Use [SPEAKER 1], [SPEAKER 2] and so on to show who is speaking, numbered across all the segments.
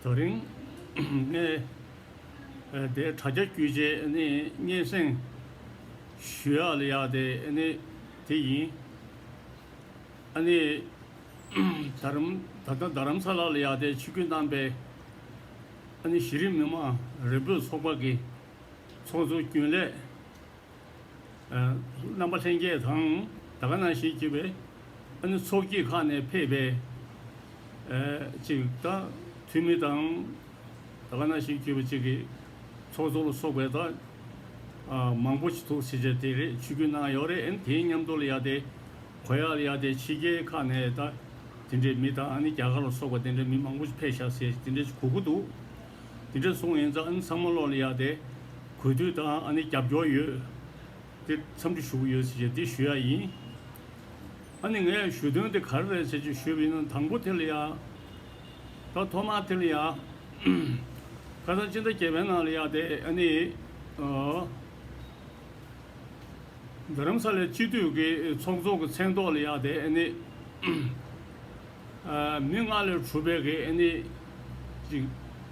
[SPEAKER 1] དོ། རིང་ནས་དེ་དྲ་རྒྱ་བརྒྱུད་རྗེས་སྙན་གསེང་ཞུ་ཡག་ལ་ཡག་དེ་དེ་ཡིན། ད་ལྟ་རྡ་རམ་ས་ལ་ལ་ཡག་དེ་ཕྱི་གུས་གནང་པའི་གཞི་རིམ་མི་མང་རེ་འབོད་ཚོགས་པ་གི་ཚོགས་གཙོ་རྒྱུན་ལས། རྣམ་པ་ལྷན་སྐྱེས་དང་ད་ག་ན་ཞིག་སྐྱེས་པའི། ཨ་ནུ་ཚོགས་ཀྱིས་ཁ་ནས་ཕེབས་པའི། ཅིག་ད་ཐུན་མི་དང་ད་ག་ན་ཞིག་སྐྱེས་པ་ཅིག་གི། ཚོགས་གཙོ་ལ་སོགས་པའི་ད་མང་པོ་ཅིག་ཐུགས་ཚེ་ཆ་དེ་རེད་ཆུ་རྒྱུན་ན་ཡོག་རེད་དེའི་མཉམ་དུ་ལ་ཡག་དེ། གོ་ཡག་ལ་ཡག་དེ་ཕྱི་རྒྱལ་ཁ་ནས་ད་དེ་འདྲའི་མི་དང་ཨ་ནི་རྒྱ་གར་ལ་སོགས་པ་དེ་འདྲའི་མི་མང་པོ་ཅིག་ཕེབས་ཤག་ཟེར་དེ་འདྲའི་ཅིག་གོ་གི་འདུག་དེ་འདྲ་སོང་ཡིན་ཙང་ཨ་ནི་ཚང་མ་བློ་ལ་ཡག་སྟེ། གུས་འདུད་དང་ཨ་ནི་རྒྱབ་སྐྱོར་ཡོད། དེ་འཚམས་འདྲི་ཞུ་གི་ཡོད་ཟེར་བཞིན་འདི་ཞུ་ཡ་ཡིན། ཨ་ནི་ངས་ཞུ་དོན་དེ་ག་རེ་རེད་ཟེར་བཞིན་ཞུས་པ་ཡིན་ན་དང་པོ་དྷི་ལི་ཡ། ད་ཐོག་མར་དྷི་ལི་ཡ། ཁ་སང་སྤྱི་ཟླ་བརྒྱད་པའི་ནང་ལ་ཡག་སྟེ་ཨ་ནི། རྡ་རམ་ས་ལའི་སྤྱི་འཐུས་ཀྱི་ཚོགས་གཙོ་གི་མཚན་ཐོག་ལ་ཡག་སྟེ་ཨ་ནི། མི་ལྔ་ལས་གྲུབ་པའི་ཨེ་ནི་ཅི།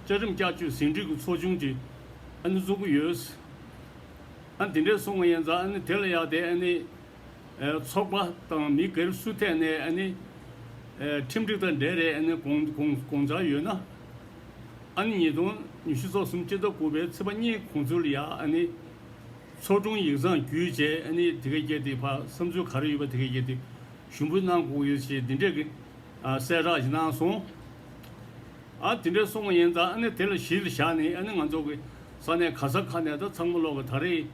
[SPEAKER 1] བཅའ་ཁྲིམས་བསྐྱར་བཅོས་ཟིན་བྲིས་ཀྱི་ཚོགས་ཆུང་ཅིག་ཨེ་ནི་བཙུགས་ཀྱི་ཡོད། ཨ་དེ་འདྲས་སོང་ཡིན་ཙང་ཨེ་ནི་དེ་ལ་ཡག་དེ་ཨེ་ནི། ཚོགས་པ་དང་མི་སྒེར་སུ་ཐད་ནས་ཨེ་ནི། ཁྲིམས་སྒྲིག་དང་འབྲེལ་རེད་ཨེ་ནི་དགོངས་འཆར་ཡོད་ན། ཨ་ནི་ཉིས་སྟོང་ཉི་ཤུ་ཚོགས་གསུམ་སྤྱི་ཟླ་དགུ་པའི་ཚེས་པ་གཉིས་གོང་ཚུལ་ལ་ཡག་ཨེ་ནི། ཚོགས་དྲུང་ཡིག་ཚང་བརྒྱུད་བཅས་ཨེ་ནི་དེ་གས་ཀྱེ་དེ་བར་བསམ་ཚུལ་ག་རེ་ཡོད་པ་དེ་གས་ཀྱེ་དེ། ཞུམ་བུའི་སྣང་ཁུག་ཡོད་ཅེས་འདི་འདྲའི། གསལ་བསྒྲགས་ཞིག་གནང་སོང། ཨ། དེ་འདྲའི་སོང་བ་ཡིན་ཙང་ཨ་ནི་དེ་ལ་གཞི་ལ་བཞག་ནས་ཨ་ནི་ང་ཚོ་གི་ས་གནས་ག་ས་ཁ་ནས་ད་ཚང་མ་ལོག་གི་ད་རེས།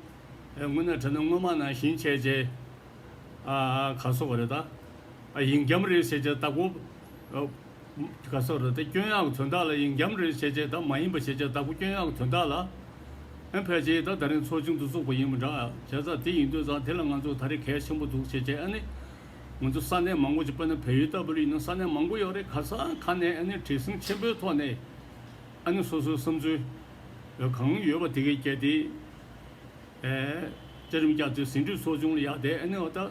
[SPEAKER 1] དངོས་གནས་དྲན་ན་སྔོན་མ་ནང་བཞིན་ཆས་ཆས། ཨ། ག་ས་བ་རེད་ད། ཨ་ཡིན་རྒྱ་མ་རེད་ཟེར་ཆས་ད་གོ། ག་སོགས་རེད་དེ་སྐྱོན་ཡག་གི་དོན་དག་ལ་ཡིན་འགྱམ་རེད་ཤེས་བྱས་དང་མ་ཡིན་པ་ཤེས་བྱས་དག་གོ་སྐྱོན་ཡག་གི་དོན་དག་ལ་ཨེ་ཕལ་ཆེ་ད་ད་རིང་ཚོགས་ཆུང་དུ་ཚོགས་པ་ཡིན་མི་འདྲ་བྱས་ཙང་དེ་ཡིན་དུས་ཙང་དེ་ལ་ང་ཚོ་ད་རེ་གལ་ཆེན་པོ་འདུག་ཤེས་བྱས་ཨེ་ནི་ང་ཚོ་ས་གནས་མང་པོ་ཅིག་དཔེར་ན་བལ་ཡུལ་ལྟ་བུ་ལ་ཡིན་ན་ས་གནས་མང་པོ་ཡོད་རེད་ག་ས་ག་ནས་ཨེ་ནི་བྲེལ་ཟིང་ཆེན་པོའི་ཐོག་ནས་ཨེ་ནི་སོ་སོའི་བསམ་ཚུལ་གང་ཡོད་པ་དེ་གས་བཅད་དེ་བཅའ་རིམ་བསྐྱར་དུས་ཟིན་དུས་ཚོགས་ཆུང་ལ་ཡག་བསྡད་ཨེ་ནི་འོ་ད།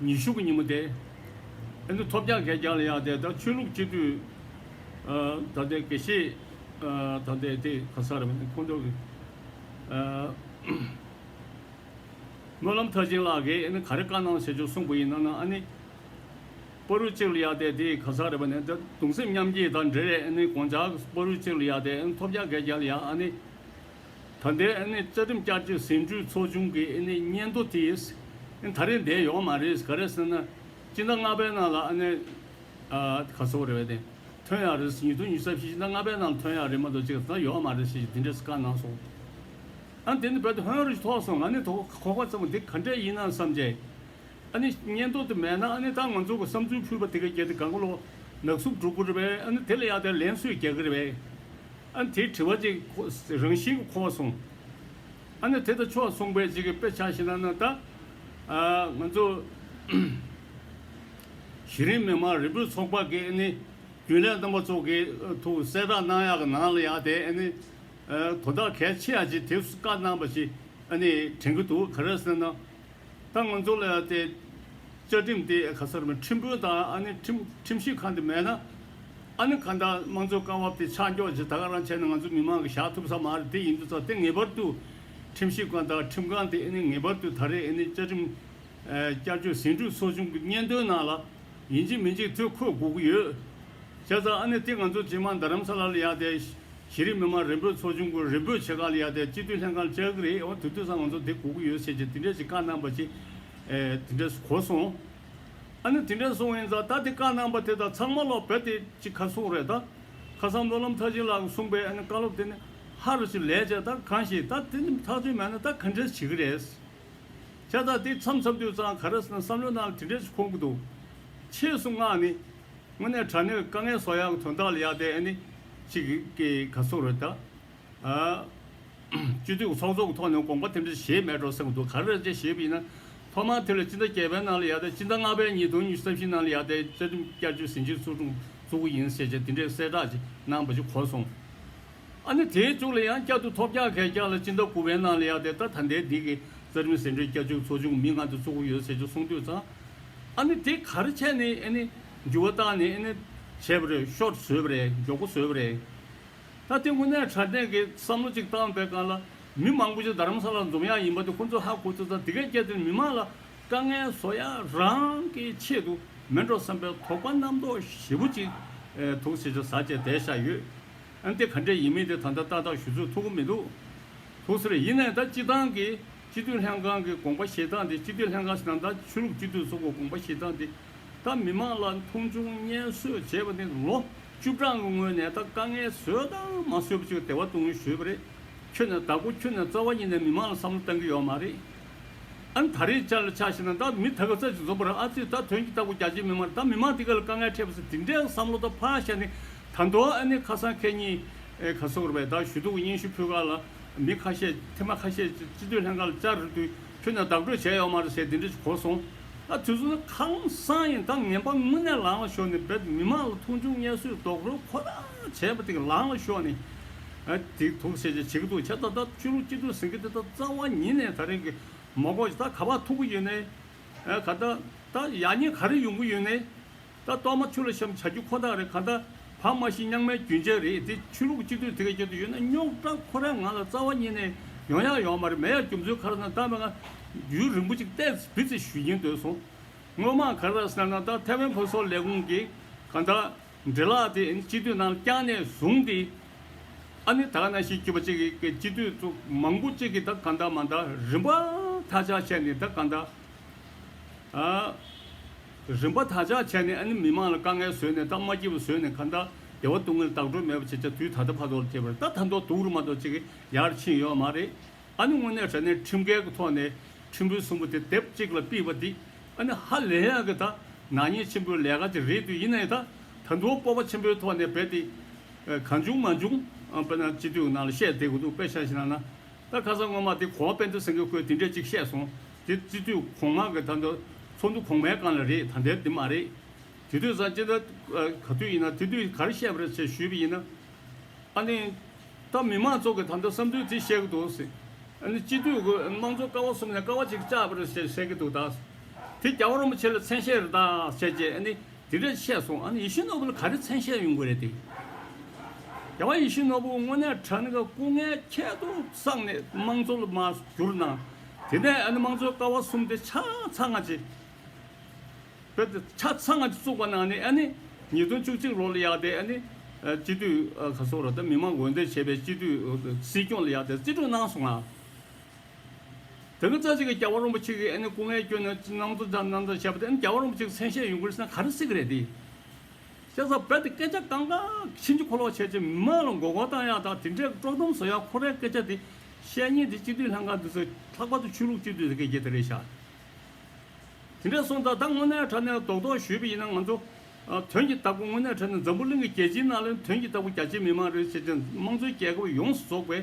[SPEAKER 1] ཉི་ཤུ་པའི་ཉིན་མོ་སྟེ། ཨེ་འདུག་ཐོབ་རྒྱག་འགལ་རྒྱག་ལ་ཡག་དེ་ད་ཆོས་ལུགས་སྤྱི་འཐུས། ད་ལྟའི་དགེ་བཤེས། ད་ལྟའི་དེ་ག་ས་རེད་མིན་ཁོང་ཚོ། སྨོན་ལམ་མཐར་ཕྱིན་ལགས་ཨེ་ནི་ག་རེ་བཀའ་གནང་ཟེར་ཆོག་གསུངས་པ་ཡིན་ན་ན་ཨ་ནི། པོ་རུ་གཅིག་ལ་ཡག་དེ་དེ་ག་ས་རེད་པ་ནི་ད་གདུང་སེམས་མཉམ་སྐྱེད་དང་འབྲེལ་ཨེ་ནི་དགོངས་འཇགས་པོ་རུ་གཅིག་ལ་ཡག་དེ་ཨེ་ནི་ཐོབ་རྒྱག་འགལ་རྒྱག་ལ་ཡག་ཨ་ནི། ད་ལྟའི་ཨེ་ནི་རྩ་ཁྲིམས་བསྐྱར་བཅོས་ཟིན་བྲིས་ཚོགས་ཆུང་གི་ཨེ་ནི་སྙན་ཐོ་དེས་ཨེ་ད་རེས་འདས་ཡོང་མ་རེད་ག་རེ་ཟེར་ན། སྤྱི་ཟླ་ལྔ་པའི་ནང་ལ་ཨ་ནེ། ཨ། ག་ཚོགས་རེད་བས་དེ་ཐོན་ཡག་རེད་ཉིས་སྟོང་ཉི་ས་བཞི་སྤྱི་ཟླ་ལྔ་པའི་ནང་ལ་ཐོན་ཡག་རེད་མ་གཏོགས་སྤྱི་ཟླ་ཡོང་མ་རེད་ཞེས་ཞེས་དེ་འདྲའི་བཀའ་གནང་སོང། ཨ་དེ་ནི་བོད་དུ་ཧོན་རུལ་ཐོགས་སོང་ང་ནི་དོ་ཁོག་པ་ཙམ་མོ་དེ་ག་འདྲས་ཡིན་ནམ་བསམ་བྱས། ཨ་ནི་གཉེན་རྟོག་དེ་མེད་ན་ཨ་ནི་ད་ང་ཚོ་གི་བསམ་ཚུལ་ཕུད་པ་དེ་ག་རྒྱལ་དེ་ག་མགོ་ལོག་ནག་གསུབ་འགྲོ་དགོས་རེད་པས་ཨ་ནི་དེ་ལ་ཡག་དེ་ལན་སོས་རྒྱག་གི་རེད་པས་ཨ་ནི་དེ་དྲི་བ་ཅིག་རང་བཞིན་གི་འཁོར་བ་སོང་ཨ་ནི་དེ་ད་ཆོག་སོང་པས་ཅིག་དཔེ་ཆ་ཞིག་ན་ན་ད་ང་ཚོ་གཞི་རིམ་མི་མང་རིལ་བོའི་ཚོགས་པ་གི་ཨ་ནི་རྒྱུན་ལས་རྣམ་པ་ཚོ་གི་ཐུགས་གསལ་བསྒྲགས་གནང་ཡག་གི་ནང་ལ་ཡག་དེ་ཨ་ནི་དོ་བདག་གལ་ཆེ་ཡག་ཅིག་དེ་བཀའ་གནང་པ་ཞིག་ཨ་ནི་དྲན་གི་འདུག་ག་རེ་ཟེར་ན། ད་ང་ཚོ་ལ་ཡང་དེ། བཅའ་ཁྲིམས་དེ་ག་སར་མེད་ཁྲིམས་དཔོན་དང་ཨ་ནི་ཁྲིམས་ཁྲིམས་ཞིབ་ཁང་དེ་མེད་ན། ཨ་ནི་གང་ལྟར་དམངས་གཙོའི་རྐང་བབ་དེ་ཆགས་འཇོག་ཇི་ལྟར་རང་བྱས་ནས་ང་ཚོ་མི་མང་གི་བཞག་ཐུབ་ས་མ་རེད་དེ་ཡིན་དུས་ཚགས་དེ་ངེས་པར་དུ། ཁྲིམས་ཞིབ་ཁང་དང་ཁྲིམས་ཁང་དེ་ཨེ་ནི་ངེས་པར་དུ་ད་རེས་ཨེ་ནི་བཅའ་ཁྲིམས། བསྐྱར་བཅོས་ཟིན་བྲིས་ཚོགས་ཆུང་གི་སྙན་ཐོའི་ནང་ལ། ཡིན་གཅིག་མིན་གཅིག་ཐོས་འཁོད་དགོས་ཀྱི་ཡོད། བྱས་ཙང་ཨ་ནི་དེ་ང་ཚོ་ཇེ་མང་དར་རམ་ས་ལ་ལ་ཡང་དེ། གཞི་རིམ་མི་མང་རིམ་སྤོས་ཚོགས་ཆུང་གི་རིམ་སྤོས་ཆེ་ཁག་ལ་ཡར་ལྟས་གཅིག་སྡུད་ལྷན་ཁང་བཅའ་གི་རེད་འོ་དེ་དུས་སང་ང་ཚོ་དེ་གོ་གི་ཡོད་ཟེར་གྱིས་དེ་འདྲས་ཅིག་བཀའ་གནང་པ་ཅིག་དེ་འདྲས་གོ་སོང། ཨ་ནི་དེ་འདྲས་སོང་ཡིན་ཙང་ད་དེ་བཀའ་གནང་པ་དེ་དང་ཚང་མ་ལོག་བོད་དེ་ཅིག་ཁ་སོང་རེད་ད། ཁ་སང་སྨོན་ལམ་མཐར་ཕྱིན་ལགས་གསུངས་པའི་ཨ་ནི་བཀའ་སློབ་དེ་ནི་ཧ་རུ་ཅིག་ལས་བྱས་ད་གང་ཞིག་ད་དེ་ནི་ཐག་ཆོད་མེད་ན་ད་ག་འདྲས་བྱེད་གི་རེད། ཁྱེད་ད་དེ་མཚམས་མཚམས་དུས་ཙང་ག་རེ་ཟེར་ན་བསམ་བློ་གནང་ལ་དེ་འདྲས་ཅིག་ཁོམ་གི་འདུག་ཕྱིས་སུ་ངག་ནི། དངོས་གནས་དྲ་གནོད་དཀའ་ངལ་སོགས་ཡང་དོན་དག་ལ་ཡག་དེ་ཨ་ནི་གཅིག་གི་ག་སོགས་རེད་ད། སྤྱི་འཐུས་ཀྱི་ཚོགས་གཙོ་གི་ཐོག་ནས་དགོངས་པ་དེ་འདྲ་བཞེས་མེད་འགྲོ་སེམས་འདུག་ག་རེ་རེད་ཅེས་བཞེས་པ་ཡིན་ན། ཐོག་མར་དེ་ལ་སྤྱི་ཟླ་བརྒྱད་པའི་ནང་ལ་ཡག་དེ་སྤྱི་ཟླ་ལྔ་པའི་ཉིན་དོན་གཉིས་བསམ་བཞིན་ནང་ལ་ཡག་དེ་བཅའ་ཁྲིམས་བསྐྱར་བཅོས་ཟིན་རྗེས་ཚོགས་ཆུང་བཙུགས་གི་ཡིན་ཟེར་བྱས་དེ་འདྲའི་གསལ་བསྒྲགས་ཅིག་གནང་པ་ཅིག་གོ་སོང། ཨ་ནི་དེའི་མཇུག་ལ་ཡང་བསྐྱར་དུ་ཐོག་བརྒྱག་གས་བརྒྱག་ལ་སྤྱི་ཟླ་དགུ་པའི་ནང་ལ་ཡག་དེ་ད་ད་ལྟའི་འདི་གི་རྩ་ཁྲིམས་ཟིན་འགྲོའི་བསྐྱར་བཅོས་ཚོགས་ཆུང་མི་ལྔ་དེ་བཙུགས་ཀྱི་ཡོད་ཟེར་བྱས་སོང་དུས་ཚང་ཨ་ནི་དེ་ག་རེ་བྱས་ནས་ཨེ་ནི་འགྱུར་བ་བཏང་ནས་ཨེ་ནི་བྱས་པ་རེད་ཤོར་བཟོས་པ་རེད་མགྱོགས་པོ་བཟོས་པ་རེད། ད་དེ་དངོས་གནས་དྲ་སྦྲེལ་གྱི་བསམ་བློ་གཅིག་བཏང་བའི་སྒང་ལ་མི་མང་པོ་ཞིག་རྡ་རམ་ས་ལ་འཛོམས་ཡག་ཡིན་པ་དེ་ཁོང་ཚོས་ཧ་གོ་ཚོད་ཙང་དེ་གས་བསྐྱལ་ཚེ་མི་མང་ལ་དཀའ་ངལ་བཟོ་ཡ་རང་གི་ཆེད་དུ་མེད་འགྲོ་བསམ་པའི་དོགས་པ་རྣམ་རྟོག་ཞེ་བོ་ཅིག་ཐུགས་སེ་ཆུ་ཟ་བྱས་བསྡད་བཞག་ཡོད། ཨ་ནི་དེ་ག་འདྲས་ཡིན་མིན་དེ་ད་ལྟ་ཏག་ཏག་ཞུ་ཚོད་ཐུག་གི་མི་འདུག་ཐུགས་སེ་རེད་ཡིན་ནའི་ད་སྤྱི་བཏང་གི་སྤྱི་འཐུས་ལྷན་ཁང་གི་དགོངས་པ་བཞེས་སྟངས་དེ་སྤྱི་འཐུས་ལྷན་ཁང་ཞིག་དང་ད་ཆུ་རུབ་སྤྱི་འཐུས་སོགས་ཀྱི་དགོངས་པ་བཞེས་སྟངས་དེ་ད་མི་མང་ལ་མཐོང་ཆུང་བརྙན་གསོད་བྱས་པ་ནི་ལོ་བཅུ་གྲངས་ཀྱི་སྔོན་ནས་ད་དཀའ་ངལ་བཟོས་དང་མ་བཟོས་པ་ཞིག་སྡེ་བ་སྟོང་ཉུལ་ཞུས་པ་རེད། ཁྱོད་ནས་ད་གོ་ཁྱོད་ནས་རྩ་བ་ཉིད་ནས་མི་མང་ལ་བསམ་བློ་བཏང་གི་ཡོད་མ་རེད། ཨ་ནི་ད་རེས་ཅར་ལ་ཆགས་ཤིག་ན་ད་མི་ད་ག་རྩ་ཅིག་འཛོམས་པར་ཨ་ཚོས་ད་དོན་གྱི་ལྟ་གོ་རྒྱ་ཆེའི་མི་མང་ད་མི་མང་དེ་ག་ལ་དཀའ་ངལ་འཕྲད་པ་སོགས་དེ་འདྲའི་བསམ་བློ་ད་ཕར་བཞག་ནས་ད་མདོ་ཨ་ནི་ཁ་སང་ཁྱེད་གཉིས་ག་སོགས་རེད་པས་ད་ཞུ་གཏུག་གི་སྙན་ཞུ་ཕུལ་ག་ལ། མི་ཁ་ཤས་ཐེངས་མ་ཁ་ཤས་སྤྱི་འཐུས་ལྷན་ཁང་ལ་བཅར་རེ་དུས་ཁྱོད་ནས་བདག་སྤྲོད་བྱས་ཡོག་མ་རེད་ཟེར་དེ་འདྲ་གོ་སོང། ཨ་དུས་ཚོད་ཁ་སང་ཡིན་ད་ངན་པ་དངོས་གནས་ལང་ལ་ཤོར་ནས་བེད་མི་མང་ལ་མཐོང་ཆུང་བརྙས་བཟོས་རྡོག་རོལ་ཁོ་ན་བྱས་པ་དེ་ལང་ལ་ཤོར་ནས་དེ་དོག་སེ་བྱས་ཀྱི་འདུག་ཁྱེད་ད་ལྟ་ཆོས་ལུགས་སྤྱི་འཐུས་ཟེར་གི་འདི་ད་རྩ་བ་ཉིད་ནས་ད་རེས་ཀྱི་མ་གོ་ཅི་ད་ག་པར་ཐུག་གི་ཡོད་ནའི། ག་ད་ད་ཡག་ཉེས་ག་རེ་ཡོང་གི་ཡོད་ནའི། ད་གཏོར་མ་ཆུ་ལ་བཤམ་བྱ་རྒྱུ་ཁོ་ཐག་རེད་ག་ད་བག་མ་ཞིག་རྙང་མའི་རྒྱུན་ཆད་རེད་དེ་ཆོས་ལུགས་སྤྱི་འཐུས་དེ་ག་ཁྱེར་དུ་ཡོད་ན་རྙོག་དྲ་ཁོ་རང་ང་ལ་རྩ་བ་ཉིད་ནས་ཡོང་ཡག་ཡོང་མ་རེད་མེད་ཡག་རྒྱུ་མཚོན་ག་ར་ན་ད་མི་ང་ཡུན་རིང་པོ་ཅིག་སྟས་བི་ཚེ་ཞུ་ཀྱིན་འདོད་སོང་དངོས་མང་ག་ར་ཟེར་ན་ད་ཐེ་ཝན་བོད་སོག་ལས་ཁུངས་ཀྱི་ག་ད་འདྲེ་ལག་དེ་སྤྱི་འཐུས་ནང་བསྐྱངས་ནས་བཟུང་དེ་ཨ་ནི་དག་ན་ཤི་སྐྱིད་པ་ཅིག་གི་གི་སྤྱི་འཐུས་ཚོ་མང་པོ་ཅིག་གི་ད་ག་ད་མ་ད་རིམ་པ་ཐག་ཆག་བྱས་ནས་ད་ག་ད་ཨ། རིམ་པ་དག་ཅག་བྱས་ནས་ཨ་ནི་མི་མང་ལ་དཀའ་ངལ་བཟོས་ནས་སྟབས་མ་སྐྱིད་པ་བཟོས་ནས་ཁ་མཐའ་བདེ་བ་སྟུག་ངལ་དག་སྒྲུབ་མེད་པ་བྱེད་ཆ་དུས་ད་ལྟ་ཕ་ཐོག་ལ་ཐེབས་པར་ད་ཐ་མདོག་དུག་རུ་མ་གཏོགས་ཅི་ཡར་ཕྱིན་ཡོད་མ་རེད། ཨ་ནི་དངོས་གནས་དྲ་གནས་ཁྲིམས་འགལ་གྱི་ཐོག་ནས་ཁྲིམས་དཔོན་གསུམ་པོ་དེ་དེབ་གཅིག་ལ་པིས་པ་འདི་ཨ་ནི་ཧ་ལས་ཡག་གི་ད་ནག་ཉེས་ཆེན་པོའི་ལས་ཀ་དེ་རེད་དུས་ཡིན་ན་ཡང་ད་ད་མདོག་སྤོབས་པ་ཆེན་པོའི་ཐོག་ནས་བས་ཏེ། གང་བྱུང་མ་བྱུང་དཔེར་ན་སྤྱི་འཐུས་ནང་ལ་བཤད་བསྡད་དགོས་འདུག་དཔེ་ཆ་ཞིག་ན་ན། ད་ཁ་སང་སྔོན་མ་དེ་གོང་དཔེ་འདི་སེང་གེ་ཁོས་དེ་འདྲས་གཅིག་བཤད་སོང། དེ་རྩིས་དུས་གོང་མ་གི་ད་འདི་ཚོགས་འདུ་གོང་མའི་སྒང་ལ་རེད་ད་འདིར་དེ་མ་རེད། དེ་དུས་སང་ཅི་འདྲ་ག་དུས་ཡིན་ན་དེ་དུས་ག་རེ་བཤད་པ་རེད་ཅེས་ཞུས་པ་ཡིན་ན། ཨ་ནི། ད་མི་མང་ཚོགས་ཀྱི་ད་འདི་བསམ་ཚུལ་དེ་བཤད་གི་འདུག། ཨ་ནི་སྤྱི་འཐུས་ཁོས་དམངས་གཙོ་ཀ་བ་གསུམ་ནས་ཀ་བ་གཅིག་བཅག་པ་རེད་ཅེས་བཤད་ཀྱི་འདུག་ད། དེ་རྒྱ་བ་རོང་པོ་ཆེ་ལ་མཚན་ཤས་རེད་ད་བཤད་རྗེས་ཨ་ནི། དེ་འདྲ་བཤད་སོང་ཨ་ནི་ཡེ་ཤུ་ནོར་བུ་ལ་ག་རེ་མཚན་བཤད་ཡོང་གི་རེད་དེ། རྒྱལ་བ་ཡེ་ཤུ་ནོར་བུ་དངོས་གནས་དྲ་ནི་ག་སྐུ་ངལ་ཁྱད་དུ་བསགས་ནས་དམངས་གཙོ་ལ་མ་བསྒྱུར་ན་དེ་ནས་ཨ་ནི་དམངས་གཙོའི་ཀ་བ་གསུམ་དེ་ཆ་ཚང་སྔ་རྗེས་བོད་དེ་ཆ་ཚང་སྔ་རྗེས་བཙུགས་པ་ནང་ནས་ཨ་ནི་ཉིས་སྟོང་བཅུ་གཅིག་ལོ་ལ་ཡག་དེ་ཨ་ནི་སྤྱི་འཐུས་ཁ་སོ་ར་དང་མི་མང་འོས་འདེམས་བྱས་པའི་སྤྱི་འཐུས་སྲིད་སྐྱོང་ལ་ཡག་དེ་རྩིས་སྤྲོད་གནང་སོང་ང། དེ་ནས་རྩ་ཆེ་གེ་རྒྱལ་བ་རོན་པོ་ཆེ་གིས་ཨེ་ནི་སྐུ་ངལ་སྐྱོན་ནས་ཅི་གནང་འདུག་ཅང་གནང་ཅང་བཤད་པ་དེ་ཨེ་ནི་རྒྱལ་བ་རོན་པོ་ཆེ་གི་མཚན་ཤས་ཡོང་གི་རེད་ཟེར་ན་ག་རེ་སྲིད་གི་རེད་དེ། ཤ་ཟ་བལ་དེ་སྐད་ཆ་གང་ག་གི་ཕྱིན་ཅི་ཁོ་ལོག་བྱས་ཅི་མི་མང་ལ་མགོ་སྐོར་བཏང་ཡག་དང་དེ་འདྲས་ཀི་དཀྲོག་གཏམ་བཟོ་ཡག་ཁོ་རའི་སྐད་ཆ་དེ་བཤད་ཉེན་དེ་སྤྱི་འཐུས་ལྷན་ཁང་དེ་ཚོས་ལྷག་པར་དུ་ཆོས་ལུགས་སྤྱི་འཐུས་ཟེར་མཁན་རྒྱལ་དེ་རེད་ཤག་དེ་འདྲས་སོང་ད་ད་དངོས་གནས་གྲ་ནས་རྡོག་རྡོག་བཞུས་པ་ཡིན་ན་ང་ཚོ་དོན་གྱི་བདག་པོ་དངོས་གནས་གྲ་ནས་འཛམ་བུ་གླིང་གི་རྒྱལ་སྤྱིའི་ནང་ལེན་དོན་གྱི་བདག་པོ་རྒྱ་ཆེའི་མི་མང་རེད་བྱས་ཏེ་དམངས་གཙོའི་རྒྱལ་ཁབ་ཡོངས་སུ་རྫོགས་པའི་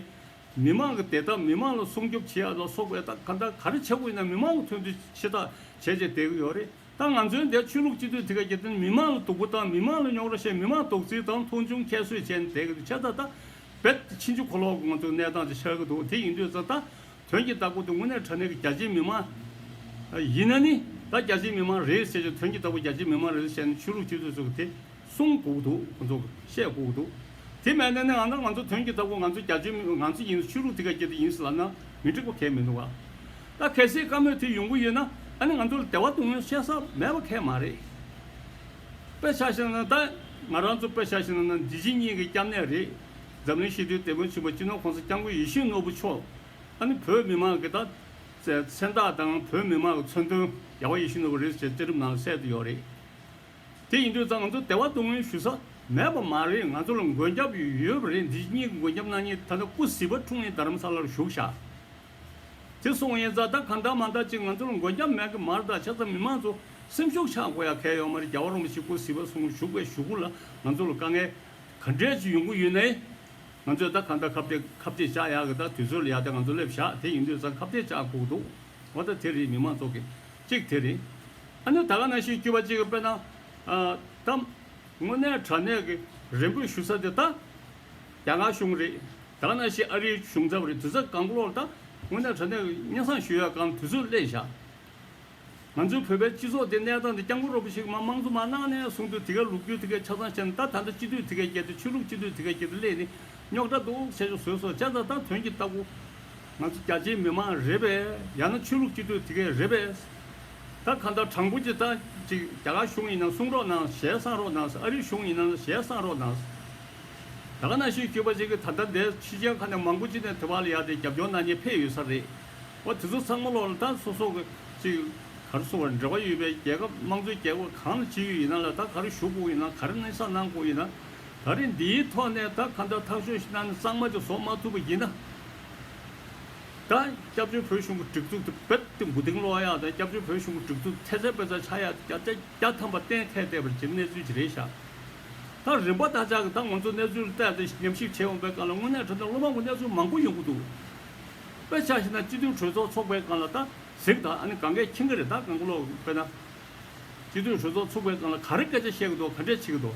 [SPEAKER 1] མི་མང་གི་བདེ་ཐབས་མི་མང་ལ་སྲུང་སྐྱོབ་བྱེད་ཡག་ལ་སོགས་པའི་ཐད་གང་ལྟར་ག་རེ་བྱེད་དགོས་ཡིན་ན་མི་མང་ལ་མཐུན་འབྲེལ་ཆེ་ཐག་བྱས་བྱས་བསྡད་ཀྱི་ཡོད་རེད་ད་ང་ཚོའི་འདས་ཆོས་ལུགས་སྤྱི་འཐུས་དེ་ག་རྒྱལ་དོན་མི་མང་ལ་སྡུག་པོ་དང་མི་མང་ལ་རྙོག་ར་བཤད་མི་མང་དོགས་ཚིག་དང་མཐོང་ཆུང་ཁྱད་གསོད་བྱས་ནས་བསྡད་ཀྱི་འདུག་ཆ་ད་ད་བེད་ཕྱིན་ཆུ་ཁོ་ལོག་གི་ང་ཚོའི་གནས་སྟངས་དེ་ཆགས་ཀྱི་འདུག་དེ་ཡིན་དུས་ད་ད་དོན་གྱི་བདག་པོ་དེ་དངོས་གནས་དྲ་གནས་ཀྱི་རྒྱ་ཆེའི་མི་མང་ཡིན་ན་ནི་ད་རྒྱ་ཆེའི་མི་མང་རེད་ཟེར་ཞིང་དོན་གྱི་བདག་པོ་རྒྱ་ཆེའི་མི་མང་རེད་ཟེར་ནས་ཆོས་ལུགས་སྤྱི་འཐུས་ཚོ་གི་དེ། གསུང་སྒུག་འདུག་ཁོ་ཚོ་བཤད་སྒུག་འདུག་དེ་མེད་ན་ནི་ང་ནི་ང་ཚོ་དོན་གྱི་ལྟ་བུ་ང་ཚོ་རྒྱ་ཆོས་མིན་པ་ང་ཚོ་ཡིན་ན་ཆོས་ལུགས་དེ་ག་རྒྱ་དེ་ཡིན་ཟེར་ལབ་ན་མི་འགྲིག་པ་གས་མི་འདུག་ག་ད་གལ་སྲིད་བཀའ་མོས་དེ་ཡོང་གི་ཡོད་ན་ཨ་ནི་ང་ཚོ་ལ་དེ་བ་སྡུག་སྔོན་བཤད་ས་མེད་པ་གས་མ་རེད། དཔེ་ཆ་ཞིག་ན་ད་ང་རང་ཚོ་དཔེ་ཆ་ཞིག་ན་འདི་ཕྱི་གཉིས་ཀྱི་སྐྱབས་གནས་རེད་འཛམ་གླིང་ཞི་བདེའི་སྡེ་དཔོན་ཆེན་པོ་སྤྱི་ནོར་ཁོང་ས་སྐྱབས་མགོན་ཡིད་བཞིན་ནོར་བུ་མཆོག་ཨ་ནི་བོད་མི་མང་གི་ད་བཙན་བདག་དང་བོད་མི་མང་གི་མཚོན་དོན་རྒྱལ་བ་ཡིད་བཞིན་ནོར་བུ་རེད་ཟེར་བཅའ་ཁྲིམས་ནང་ལ་གསལ་དུ་ཡོད་རེད། དེ་ཡིན་དུས་ཙང་ང་ཚོ་དེ་བ་སྡུག་བསྔལ་ཞུ་ས་མེད་པ་མ་རེད་ང་ཚོ་ལ་མགོན་སྐྱབས་ཡོད་པ་རེད་འདི་གཉིས་མགོན་སྐྱབས་གནང་ཉིན་ད་ལྟ་སྐུ་ཟི་བ་འཁྲུངས་ཉིན་རྡ་རམ་ས་ལར་བཞུགས་ཤག་དེ་སོང་ཡིན་ཙང་ད་ག་འདྲ་མ་འདྲ་ཅིག་ང་ཚོ་ལ་མགོན་སྐྱབས་མེད་གི་མ་རེད་ད་ཆ་ཚང་མི་མང་ཚོ་སེམས་ཤུགས་ཆག་དགོས་ཡག་གལ་ཡོད་མ་རེད་རྒྱ་བ་རོང་པ་ཞིག་སྐུ་ཟི་བ་སོང་བཞུགས་པའི་ཞུ་སྐུ་ལ་ང་ཚོ་ལ་དཀའ་ངལ་ག་འདྲས་ཅིག་ཡོང་གི་ཡོད་ནའི་ང་ཚོས་ད་ག་འདྲ་ཁ་བརྡས་ཁ་བརྡས་བཅག་ཡག་གི་ད་དུས་ཚོད་ལ་ཡག་དེ་ང་ཚོ་སླེབས་ཤག་དེ་ཡིན་དུས་ཙང་ཁ་བརྡས་བཅག་ཁུག་འདུག་ང་ད་དེ་རེད་མི་མང་ཚོགས་ཀྱི། གཅིག་དེ་རེད། ཨ་ནི་ད་ག་ན་ཤི་སྐྱུར་པ་གཅིག་དཔེར་ན། ད། དངོས་གནས་དྲ་གནས་ཀྱི་རེ་འབོད་ཞུ་ས་དེ་ད། རྒྱ་ནག་གཞུང་རེད། ད་ག་ན་ཤི་ཨ་རིའི་གཞུང་ཚབ་རེད་དུས་ཚོད་གང་བློ་ལ་ད། དངོས་གནས་དྲ་གནས་ཀྱི་སྙན་སང་ཞུ་ཡག་གམ་དུས་ཚོད་གླེང་བཞག། ང་ཚོའི་བོད་པའི་སྤྱི་ཚོགས་དེ་གནས་སྟངས་དེ་སྐྱང་པོ་རོ་པོ་ཞིག་མ་མང་གཙོ་མ་གནང་ནས་གསུང་དུས་དེ་གའི་ལུགས་རྒྱུད་དེ་གའི་ཆ་ཚང་བཤད་ན་ད་ད་ལྟ་སྤྱི་འཐུས་དེ་གས་བསྐྱལ་དུས་ཆོས་ལུགས་སྤྱི་འཐུས་དེ་གས་བསྐྱལ་དུས་གླེང་ནི། རྙོག་དྲ་འདུག་བྱས་ཆོག་ཟོས་སོ་བྱས་ཙང་ད་དོན་གྱི་ལྟ་སྐུ། ང་ཚོ་རྒྱ་ཆེའི་མི་མང་རེད་པས་ཡང་ན་ཆོས་ལུགས་གཅིག་སྡུད་དེ་གས་རེད་པས། ད་གང་ལྟར་དྲང་པོ་གཅིག་ཐང་གཅིག་རྒྱ་གར་གཞུང་ཡིན་ན་གསུང་རོགས་གནང་ཞལ་བསང་རོགས་གནང་ཨ་རི་གཞུང་ཡིན་ན་ཞལ་བསང་རོགས་གནང། ད་ག་ན་ཤི་སྐྱོད་པ་ཅིག་གིས་ད་ལྟ་འདས་ཕྱི་ཅན་ཁ་ནས་མང་པོ་ཅིག་ནས་དེ་བར་ལ་ཡར་དེ་རྒྱབ་སྐྱོར་གནང་ཉེ་ཕེ་ཡོད་ས་རེད། བ་དེ་ཚོ་ཚང་མ་ལོག་ལ་ད་སོ་སོ་ཅིག་གར་སོང་བར་འབྲེལ་བ་ཡོད་པའི་རྒྱལ་ཁབ་དམངས་གཙོའི་རྒྱལ་ཁབ་གང་ལ་ཇི་ཡོད་ཡིན་ན་ལ་ད་གར་བཞུགས་དགོས་ཡིན་ན་གར་གནས་ས་གནང་དགོས་ཡིན་ན། ད་རེས་འདིའི་ཐོག་ནས་ད་ག་འདྲ་ཐག་གཅོད་གནང་གཙང་མ་ཅིག་བཟོ་མ་ཐུབ་པ་ཡིན་ན། ད་སྐྱབས་བཅོལ་བོད་གཞུང་གི་སྒྲིག་འཛུགས་དེ་བེད་སྤྱོད་མགོ་རྟིང་སློག་ཡག་དང་སྐྱབས་བཅོལ་བོད་གཞུང་གི་སྒྲིག་འཛུགས་ཐེ་ཚད་པེ་ཚ་ཆག་ཡག་ཏེ་བརྒྱ་ཆ་བརྒྱ་ཐམ་པ་གཏན་འཁེལ་བསྡད་པར་གྱི་གནས་ཚུལ་ཅིག་རེད་ཤག་ད་རིམ་པ་ད་ཅག་གི་ད་ང་ཚོ་གནས་ཚུལ་བལྟས་ཏེ་ཉམས་ཞིབ་བྱེད་འོང་པའི་སྒང་ལ་དངོས་གནས་དྲ་འདྲ་སློབ་མ་ཀུན་གནས་ཚུལ་མང་པོ་ཡོང་གི་འདུག་དཔེ་ཆ་ཞིག་ན་སྤྱི་འཐུས་གྲོས་ཚོགས་ཚོགས་པའི་སྒང་ལ་ད་གཟིགས་ད་ཨ་ནི་གང་གཱའི་ཁྱིམ་ག་རེད་ད་གང་གི་ལོག་དཔེ་ན་སྤྱི་འཐུས་གྲོས་ཚོགས་ཚུགས་པའི་སྒང་ལ་ག་རེ་སྐད་ཆ་བཤད་གི་འདུག་ག་འདྲས་བྱེད་གི་འདུག།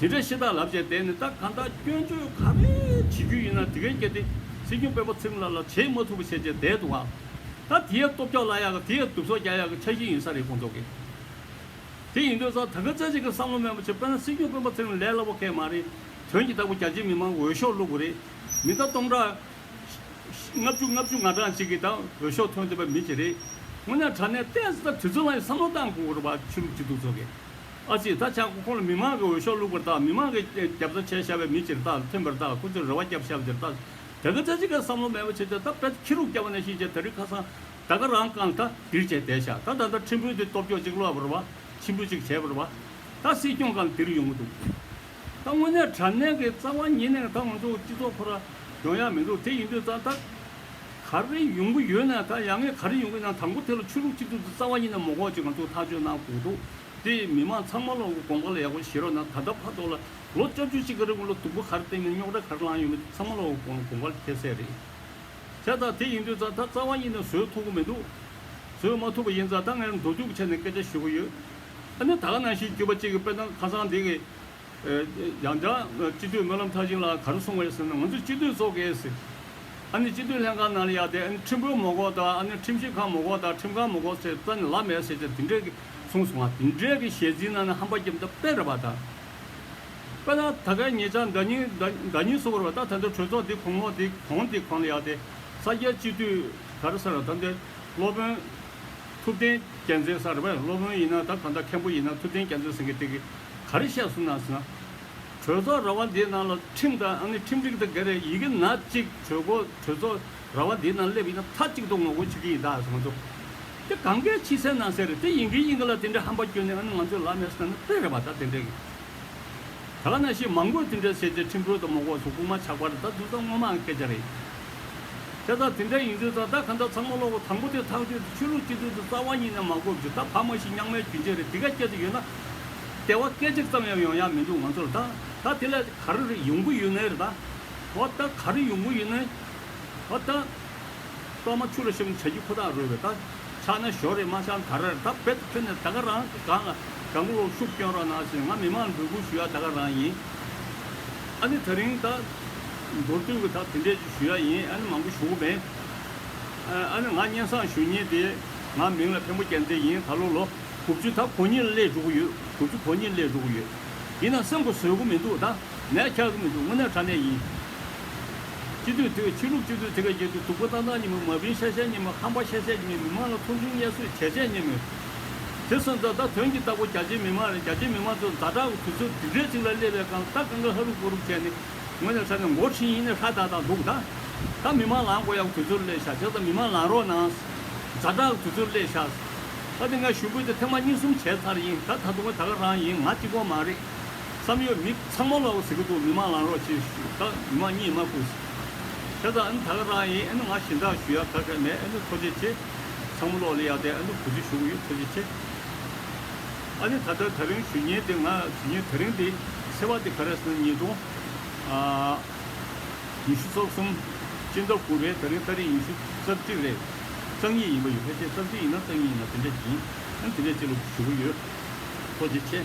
[SPEAKER 1] དེ་འདྲའི་ཤེས་རྟགས་ལབ་བྱས་བསྡད་ནས་ད་ག་ཟླ་སྐྱོན་བརྗོད་ག་རེ་བྱེད་རྒྱུ་ཡིན་ན་དེ་གའི་སྐད་དེ་སྲིད་སྐྱོང་སྤེན་པ་ཚེ་རིང་ལགས་ལ་བྱེད་མ་ཐུབ་པ་བྱས་བྱས་བསྡད་འདུག་ག་ད་དེ་ཡས་སྟོབས་རྒྱག་གླ་ཡག་ག་དེ་ཡས་དུབ་སོག་རྒྱག་ཡག་གི་ཆ་གཞི་ཡིན་ས་རེད་དགོངས་རྫོགས་ཀྱི་དེ་ཡིན་དོན་ཙང་ད་ག་ཟླ་ཅིག་གི་བསམ་བློ་དམན་པ་བྱས་པས་ན་སྲིད་སྐྱོང་སྤེན་པ་ཚེ་རིང་ལས་སླ་བོ་སྐད་མ་རེད་དོན་གྱི་བདག་པོ་རྒྱ་ཆེའི་མི་མང་འོས་ཤོག་བླུག་དགོས་རེད་མི་ད་སྟོང་ཕྲག་ལྔ་བཅུ་ལྔ་བཅུ་ང་གྲངས་གཅིག་གིས་ད་འོས་ཤོག་ཐོན་འདོད་པ་མི་བྱེད་རེད་དངོས་གནས་དྲ་གནས་ལྟས་ཟ་ད་དུས་ཚོད་ལ་ཡི་བསམ་བློ་བཏང་དགོས་དགོས་ར་བ་ཆུ་རུབ་ཅིག་འདུག་རྫོགས་ཀྱི། ཨ་ཙི་ད་ཆ་ཁོང་ལ་མི་མང་གི་འོས་ཤོག་བླུགས་པར་བལྟ་མི་མང་གིས་རྒྱབ་རྩ་བྱས་ཤར་བའི་མི་ཕྱིར་བལྟ་ཐིམ་པར་བལྟ་ཁོ་ཚོས་རེ་བ་བརྒྱབ་ཤར་བ་དེར་བལྟ། དེ་ག་ཚད་ཅིག་གིས་བསམ་བློ་མེད་པ་བྱས་ཏེ་ད་བལྟ་ཁྱི་རུག་སྐྱ་བ་ནས་ཤི་བྱས་ད་རིག་ཁ་སང་ད་ག་རང་རྐང་ད་རིག་བྱས་བསྡད་ཤག་ད་ད་ལྟ་ཁྲིམས་དཔོན་དེ་སྟོབས་འཁྱོག་ཅིག་བློ་བར་བ་ཆེན་པོ་ཅིག་བྱས་པར་བ་ད་སྲིད་སྐྱོང་གམ་དེ་རིག་ཡོང་གི་འདུག་ད་དངོས་གནས་དྲ་གནས་ཀྱི་རྩ་བ་ཉིད་ནས་ད་ང་ཚོ་སྤྱི་ཚོགས་ཁོ་ར་སྦྱོང་ཡག་མི་འདུག་དེ་ཡིན་དུས་ད་ད་ག་རེ་ཡོང་གི་ཡོད་ནའི་ད་ཡ་ངས་ག་རེ་ཡོང་གི་ཡིན་ན་དང་པོ་དེ་ལ་ཆོས་ལུགས་གཅིག་སྡུད་དེ་རྩ་བ་ཉིད་ནས་མོ་ཁོག་ཅིག་ང་ཚོ་ཐག་གཅོད་གནང་དགོས་འདུག། དེ་མི་དམངས་ཚང་མ་ལ་དགོངས་པ་ལ་ཡག་པོ་བཞེས་རོགས་གནང་ད་ལྟ་ཕར་ཐོག་ལ་ལོ་བཅོ་བརྒྱུད་གཅིག་གི་རིང་ལ་སྡུག་པོ་གར་བཏེགས་ནས་རྙོག་དྲ་གར་བསླངས་ཡོད་མེད་དེ་ཚང་མ་ལ་དགོངས་པ་འཁྱེར་གསལ་རེད། དེ་ལྟར་དེ་ཡིན་དུས་རྫ་དར་རྩ་བ་ཉིད་ནས་བཟོས་ཐུབ་གི་མི་འདུག་བཟོས་མ་ཐུབ་པ་ཡིན་རྫ་དར་ངས་འགྲོ་སྡུད་ཀྱི་ཆ་ནས་སྐད་ཆ་ཞུ་གི་ཡོད། ཨ་ནི་ད་ག་ནང་བཞིན་བརྒྱུད་པ་གཅིག་གི་དཔེ་དང་ཁ་སང་འདི་གི། ཡང་བསྐྱར་སྤྱི་འཐུས་སྨོན་ལམ་མཐར་ཕྱིན་ལགས་གར་སོང་བའི་ཟེར་ན་ང་ཚོས་སྤྱི་འཐུས་ཚོགས་ཀྱིས་ཟེར། ཨ་ནི་སྤྱི་འཐུས་ལྷན་ཁང་ནང་ལ་ཡག་དེ་ཨ་ནི་ཁྲིམས་དཔོན་མོ་ཁོག་དང་ཨ་ནི་ཁྲིམས་ཞིབ་ཁང་མོ་ཁོག་དང་ཁྲིམས་ཁང་མོ་ཁོག་ཟེར་རྩ་ནས་ལབ་མེད་ཟེར་བྱས་དེ་འདྲའི་གསུངས་སོང་བ་དེ་འདྲའི་གི་ཞལ་འཛིན་གནང་ན་ཧམ་པ་རྒྱབ་མདའ་དཔེ་ར་བ་དང། དཔེ་ན་ད་གའི་ངེད་ཅག་མདའ་སྙིང་མདའ་སྙིང་གསོ་བོར་བ་ད་ད་འདྲའི་གྲོས་ཚོགས་འདི་གོང་མོ་འདི་གོང་འདི་གོང་ལ་ཡག་སྟེ་ས་སྐྱའི་སྤྱི་མཐུས་ག་རེ་ས་ར་ད་འདི་སློབ་དཔོན་ཐུབ་བསྟན་རྒྱལ་མཚན་ས་ར་བས་སློབ་དཔོན་ཡིན་ན་ད་གང་ད་མཁན་པོ་ཡིན་ན་ཐུབ་བསྟན་རྒྱལ་མཚན་ཟེར་གི་དེ་གི་ག་རེ་བཤད་སོང་ན་ཟེར་ན། གྲོས་ཚོགས་ར་བ་འདིའི་ནང་ལ་ཁྲིམས་དང་ཨ་ནི་ཁྲིམས་སྒྲིག་ད་ག་རེ་ཡི་གི་ན་གཅིག་གྲོས་གོ་གྲོས་ཚོགས། ར་བ་དེའི་ནང་སླེབས་ཡིན་ན་མཐའ་གཅིག་ཏུ་ངོ་རྒོལ་བྱེད་ཀྱི་ཡིན་ད་གསུངས་འདུག་དེ་གང་གཱའི་ཕྱི་གསལ་ནང་གསལ་རེད་དེ་ཡིན་གྱི་ཡིན་གྱི་ལ་དེ་འདྲའི་ཧམ་པ་སྐྱོན་ནི་ཨ་ནི་ང་ཚོའི་ལག་མེད་ས་ནི་དཔེ་རེད་བ་ད་དེ་འདྲའི་གི་ད་ག་ན་ཤི་མང་པོས་དེ་འདྲའི་ཟས་བཅད་ཁྲིམས་དཔོན་དང་མོ་ཁོག་སོགས་རྐུ་མ་ཆག་པར་ད་བདུད་ཚང་སྔོན་མའང་སྐད་ཆ་རེད་དེ་ད་དེ་འདྲའི་ཡིན་དུས་ད་ད་ག་ད་ཚང་མ་གློ་བུར་དང་པོ་དེ་ཐག་གཅོད་དེ་ཆོས་ལུགས་སྤྱི་འཐུས་དེ་རྩ་བ་ཉིད་ནས་མ་བསྐོ་བརྒྱུད་ད་ཕ་མ་ཤི་རྙང་མའི་གྱོན་ཆས་རེད་དེ་ག་སྐྱེ་དུ་ཡོད་ན་དེ་བ་སྐད་ཅིག་ཙམ་ཡང་ཡོང་ཡག་མི་འདུག་ང་ཚོར་ད་ད་དེ་ལས་ག་རེ་རེད་ཡོང་གི་ཡོད་ནའི་རེད་ད་བ་ད་ག་རེ་ཡོང་གི་ཡོད་ནའི། ཨོ་ད། གཏོར་མ་ཆུ་ལ་ཤམ་བྱ་རྒྱུ་ཁོ་ཐག་རོལ་བའི་རྟ། ཕྱག་ན་ཞོ་རེ་མ་ཤང་དར་རེར་རྟ་རྦད་དུ་ཕུལ་ནས་ད་ག་རང་གི་སྒང་ལ་དགའ་མགུ་ཤུགས་བསྐྱོན་རོགས་གནང་ཞེས་ང་མི་མང་འབོད་སྐུལ་ཞུ་ཡ་ད་ག་རང་ཡིན། ཨ་ནི་ད་རིང་ད། མདོར་བསྡུས་ཀྱི་ད་དེ་འདྲས་ཅིག་ཞུ་ཡ་ཡིན་ཨ་ནི་མང་པོ་ཞུ་གི་མེད། ཨ་ནི་ང་སྙན་བཟང་ཞུ་ཉེན་དེ། ང་མིང་ལ་ཕན་པོ་རྒྱལ་མཚན་ཡིན་ད་ལོ་ལོ་དགུ་བཅུ་ད་གོ་གཉིས་ལ་སླེབས་འགྲོ་གི་ཡོད་དགུ་བཅུ་གོ་གཉིས་སླེབས་འགྲོ་གི་ཡོད། ཡིན་ན་སེམས་ཁོ་བཟོད་གི་མི་འདུག་ད། ནས་འཁྱག་གི་མི་འདུག་དངོས་གནས་དྲ་གནས་ཡིན། སྤྱི་འཐུས་དེ་ཆོས་ལུགས་སྤྱི་འཐུས་དེ་ག་རྒྱལ་དུས་དུག་པོ་ཏང་ཏང་ཉིན་མོ་མ་བིན་ཤ་ཤ་ཉིན་མོ་ཁང་པ་ཤ་ཤ་ཉིན་མི་མང་ལ་ཁུང་ཁྲུང་བརྙས་བཟོས་བྱས་བྱས་ཉིན་མོ། དེ་སོང་ད་ད་དོན་གྱི་རྟ་ཕོ་རྒྱ་ཆེའི་མི་མང་རེད་རྒྱ་ཆེའི་མི་མང་ཚོ་མཛའ་གྲགས་དུས་ཚོད་འདི་འདྲའི་ཚིག་ལ་སླེབས་པའི་གང་ལྟ་གང་ག་ཧ་རུག་ཧོ་རུག་བྱས་ནས་དངོས་གནས་དྲ་གནས་མགོ་ཁྲིད་ཡིན་ནས་ཧྲ་ད་ད་འདུག་ད་ད་མི་མང་ལང་དགོས་ཡག་དུས་ཚོད་སླེབས་ཤག་བྱས་ཙང་མི་མང་ལང་རོགས་གནང། མཛའ་གྲགས་དུས་ཚོད་སླེབས་ཤག། ད་དེ་ང་ཞུ་འབོད་དེ་ཐེངས་མ་གཉིས་གསུམ་བྱས་ཚར་ཡིན་ད་ད་དུང་ད་ག་རང་ཡིན་ང་གཅིག་པོ་མ་རེད། བསམ་ཡོད་མི་ཚང་མ་ལོག་ཟིག་གི་འདུག་མི་མང་ལང་རོགས་གྱིས་ཞུས་ཁ་མི་མང་གཉིད་མ་ཁུག་ཟིག་ཁྱེད་ཚ་ཨེ་ནུ་ད་ག་རང་ཡིན་ཨེ་ནུ་ང་ཞིན་ཏག་ཞུ་ཡག་ཁ་ཁ་མེད་ཨེ་ནུ་ཚོ་ཆེ་ཆེ་ཚང་མ་ལོག་ལེ་ཡག་ཏེ་ཨེ་ནུ་བུ་ཆུ་ཞུགས་ཡོད་ཚོ་ཆེ་ཆེ་ཨ་ནི་ད་ལྟར་ད་རིང་ཞུ་ཉེན་དེ་ང་ཞུ་ཉེན་ད་རིང་དེ་སེ་བ་དེ་ག་རེ་སོན་ཉིས་སྟོང་ཉི་ཤུ་སོ་གསུམ་སྤྱི་ཟླ་དགུ་རེད་ད་རིང་ད་རིང་ཉི་ཤུ་རྩ་བརྒྱད་རེད་རྩ་གཉིས་ཡིན་པ་ཡོད་ཕལ་ཆེར་རྩ་བཞི་ཡིན་ན་རྩ་གཉིས་ཡིན་ན་དེ་འདྲ་ཡིན་ཨེ་ནུ་དེ་འདྲ་ཅིག་ལོག་ཞུ་གི་ཡོད་ཚོ་ཆེ་ཆེ།